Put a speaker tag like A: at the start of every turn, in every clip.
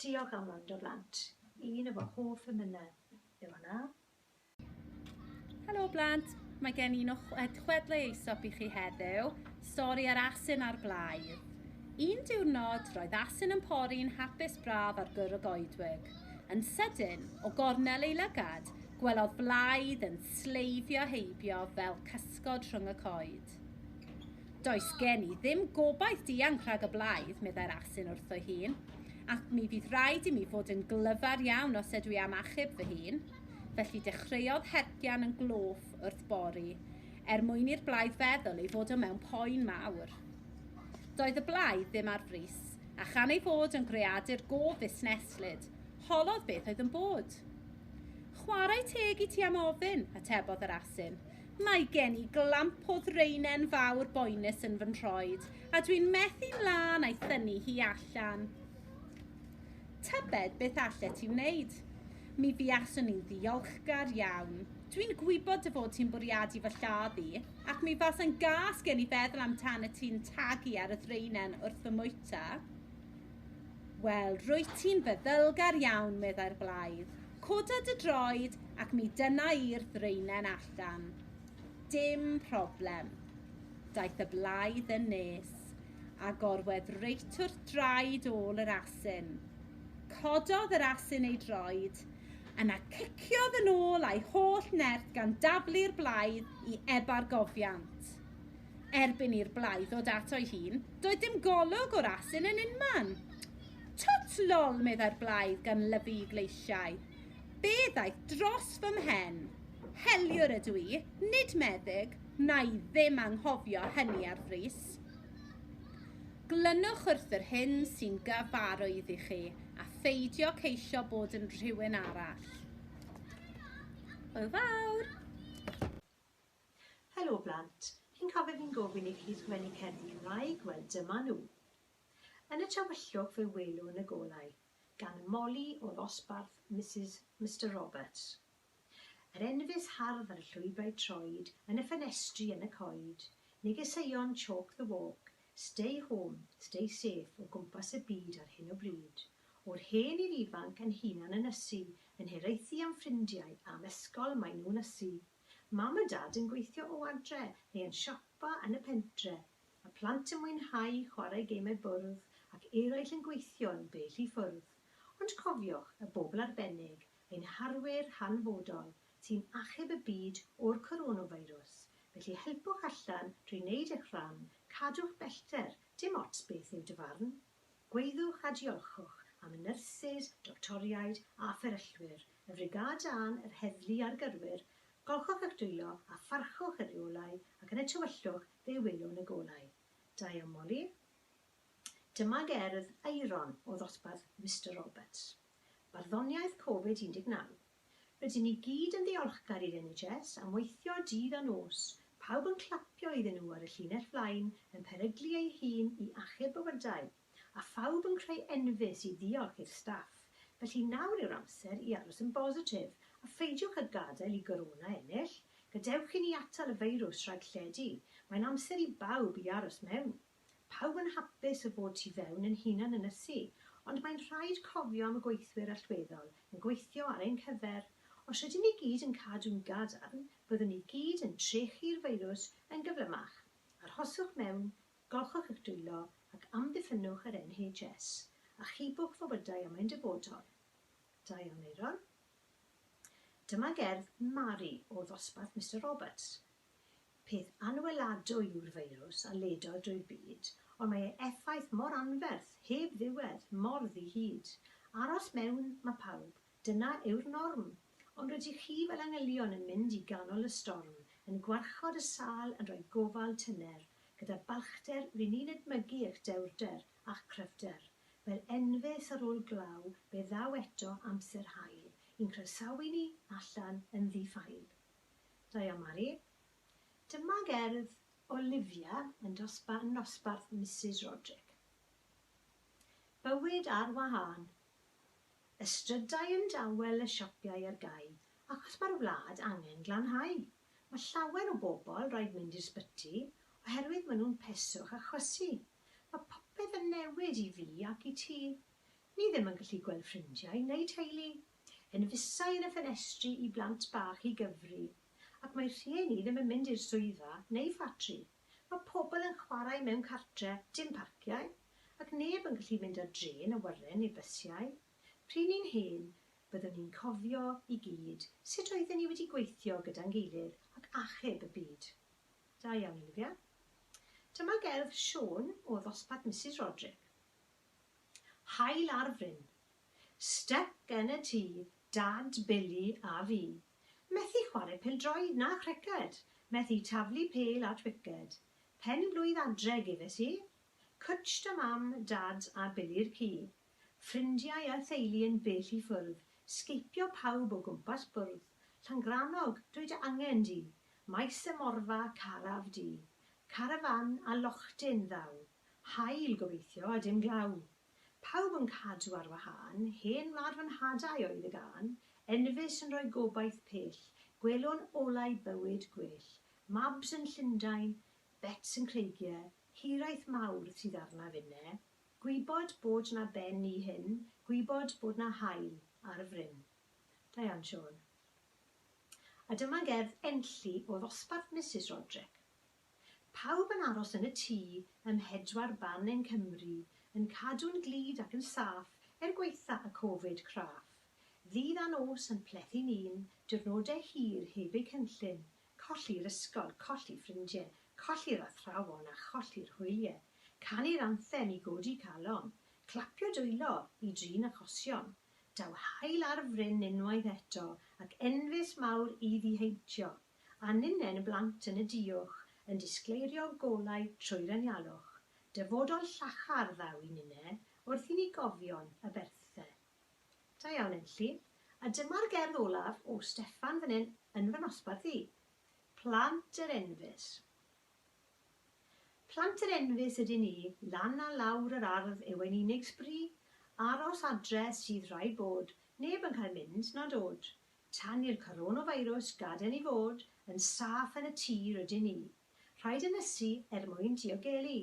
A: Diolch am wrando blant. Un o fy hoff emynau yw
B: hwnna. Helo blant, mae gen i un o chwedlau eisop i chi heddiw, stori ar asyn a'r blaidd. Un diwrnod, roedd asyn yn pori'n hapus braf ar gyr y goedwig. Yn sydyn, o gornel ei lygad, gwelodd blaidd yn sleifio heibio fel cysgod rhwng y coed. Does gen i ddim gobaith dianc rhag y blaidd, meddai'r asyn wrtho'i hun, ac mi fydd rhaid i mi fod yn glyfar iawn os ydw i am achub fy hun. Felly dechreuodd hercian yn gloff wrth bori, er mwyn i'r blaidd feddwl ei fod o mewn poen mawr. Doedd y blaidd ddim ar frys, a chan ei fod yn greadur go fusneslyd, holodd beth oedd yn bod. Chwarae teg i ti am ofyn, atebodd yr asyn. Mae gen i glamp o ddraenen fawr boenus yn fy nhroed, a dwi'n methu'n lân a'i thynnu hi allan. Tybed beth allet ti wneud? Mi fuaswn i'n ddiolchgar iawn. Dwi'n gwybod dy fod ti'n bwriadu fy lladd i, ac mi fasa'n gas gen i feddwl amdanat ti'n tagu ar y ddraenen wrth fy mwyta. Wel, rwyt ti'n feddylgar iawn, meddai'r blaidd. Coda dy droed ac mi dyna i'r ddraenen allan. Dim problem. Daeth y blaidd yn nes, a gorwedd reit wrth draed ôl yr asyn. Cododd yr asyn ei droed, yna ciciodd yn ôl a'i holl nerth gan daflu'r blaidd i ebargofiant. erbyn i'r blai ddod ato'i hun, doedd dim golwg o'r asyn yn unman. Twt lol, meddai'r blaidd gan lyfu i gleisiau. Be ddaeth dros fy mhen? Heliwr ydw i, nid meddyg, na i ddim anghofio hynny ar frys. Glynwch wrth yr hyn sy'n gyfarwydd i chi, a pheidio ceisio bod yn rhywun arall. Hwyl fawr!
A: Helo blant, chi'n cofio fi'n gofyn i chi sgwennu cerddi Cymraeg? Wel dyma nhw. Yn y tywyllwch fe welwn y golau, gan Molly o ddosbarth Misus Mister Roberts. Yr enfys hardd ar y llwybrau troed, yn y ffenestri, yn y coed, negeseuon chalk the walk, stay home, stay safe o gwmpas y byd ar hyn o bryd. O'r hen i'r ifanc yn hunan ynysu, yn hiraethu am ffrindiau, am ysgol, maen nhw'n ysu. Mam a Dad yn gweithio o adre neu yn siopa yn y pentre, y plant yn mwynhau chwarae gemau bwrdd ac eraill yn gweithio yn bell i ffwrdd. Ond cofiwch y bobl arbennig, ein harwyr hanfodol, sy'n achub y byd o'r coronafeirws, felly helpwch allan drwy wneud eich rhan, cadwch bellter, dim ots beth yw dy farn. Gwyddwch a diolchwch am y nyrsys, doctoriaid a fferyllwyr, y frigâd dân, yr heddlu a'r gyrwyr, golchwch eich dwylo a pharchwch y rheolau ac yn y tywyllwch fe welwn y golau. Da iawn Molly. Dyma gerdd Aeron o ddosbarth Mister Roberts. Barddoniaeth Covid 19. Rydyn ni gyd yn ddiolchgar i'r NHS am weithio dydd a nos, pawb yn clapio iddyn nhw ar y llinell flaen yn peryglu ei hun i achub bywydau, a phawb yn creu enfys i ddiolch i'r staff, felly nawr yw'r amser i aros yn bositif a pheidiwch â gadael i Gorona ennill, gadewch i ni atal y feirws rhag lledu, mae'n amser i bawb i aros mewn. Pawb yn hapus y bod tu fewn yn hunan ynysu, ond mae'n rhaid cofio am y gweithwyr allweddol yn gweithio ar ein cyfer. Os rydyn ni gyd yn cadw'n gadarn, byddwn ni gyd yn trechu'r feirws yn gyflymach. Arhoswch mewn, golchwch eich dwylo, ac amddiffynnwch yr NHS. Achubwch fywydau am ein dyfodol. Da iawn, Aeron. Dyma gerdd Mari o ddosbarth Mister Roberts. Peth anweladwy yw'r feirws a ledodd drwy'r byd, ond mae ei effaith mor anferth, heb ddiwedd, mor ddi-hid. Aros mewn, mae pawb. Dyna yw'r norm. Ond rydych chi fel angylion yn mynd i ganol y storm, yn gwarchod y sâl, yn rhoi gofal tyner. Gyda balchder, ry'n ni'n edmygu eich dewrder a'ch cryfder. Fel enfys ar ôl glaw, fe ddaw eto amser hael i'n croesawu ni allan yn ddi-ffael. Da iawn Mari. Dyma gerdd Olivia yn dosbarth nosbarth Misus Roderick. Bywyd ar wahân. Y strydau yn dawel y siapiau ar gau achos mae'r wlad angen glanhau. Mae llawer o bobl raid mynd i'r sbyty oherwydd mae nhw'n peswch a chwysu. Mae popeth yn newid i fi ac i ti. Ni ddim yn gallu gweld ffrindiau neu teulu. Hen fisau yn y ffenestri i blant bach i gyfri, ac mae rhieni ddim yn mynd i'r swyddfa neu ffatri. Mae pobl yn chwarae mewn cartre, dim parciau, ac neb yn gallu mynd ar drên awyren neu bysiau. Pryn ni'n hen, byddwn ni'n cofio i gyd sut oedden ni wedi gweithio gyda'n gilydd ac achub y byd. Da iawn, Olivia. Dyma gerdd Siôn o ddosbarth Misus Roderick. Haul ar fryn. Step gen y ti, Dad, Billy a fi. Methu chware pêl-droed na chriced, methu taflu pêl at wiced. Pen-blwydd adre gefes i. Cwtsh da Mam, Dad a Billy'r ci. Ffrindiau a theulu yn bell i ffwrdd, sgeipio pawb o gwmpas bwrdd. Llangrannog, dwy dy angen di. Maes y Morfa, caraf du. Carafán a lochtin ddaw. Haul, gobeithio, a dim glaw. Pawb yn cadw ar wahân, hen wlad fy nhadau oedd y gân, enfys yn rhoi gobaith pell, gwelwn olau bywyd gwell, mabs yn Llundain, bets yn creigiau, hiraeth mawr sydd arnaf inne, gwybod bod 'na ben i hyn, gwybod bod 'na haul ar y fryn. Diane Siôn. A dyma gerdd Enlli o ddosbarth Misus Roderick. Pawb yn aros yn y tŷ ym mhedwar ban yng Nghymru, yn cadw'n glyd ac yn saff er gwaetha' y Covid craff. Ddydd a nos yn plethu ni'n diwrnode' hir heb eu cynllun, colli'r ysgol, colli ffrindie, colli'r athrawon a cholli'r hwylie, canu'r anthem i godi calon, clapio dwylo i drin achosion, daw haul ar fryn unwaith eto ac enfys mawr i ddiheintio. a ninnen y blant yn y diuwch yn disgleirio golau trwy'r anialwch, dyfodol llachar ddaw i ninne wrth i ni gofion y berthe. Da iawn Enlli, a dyma'r gerdd olaf o Steffan fan hyn yn fy nosbarth i. Plant yr enfys. Plant yr enfys ydyn ni, lan a lawr yr ardd yw ein unig sbri, aros adre sydd rhaid bod, neb yn cael mynd na dod, Tan i'r coronafeirws gadael i fod yn saff yn y tir rydyn ni. Rhaid ynysu er mwyn diogelu.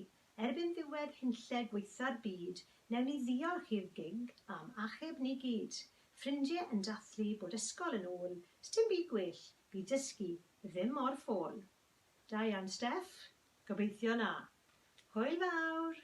A: Erbyn ddiwedd hunlle gwaetha'r byd, newn ni ddiolch i'r gig am achub ni gyd. Ffrindie yn dathlu bod ysgol yn ôl, sdim byd gwell, bydd dysgu ddim mor ffôl. Da iawn Steff, gobeithio na. Hwyl fawr!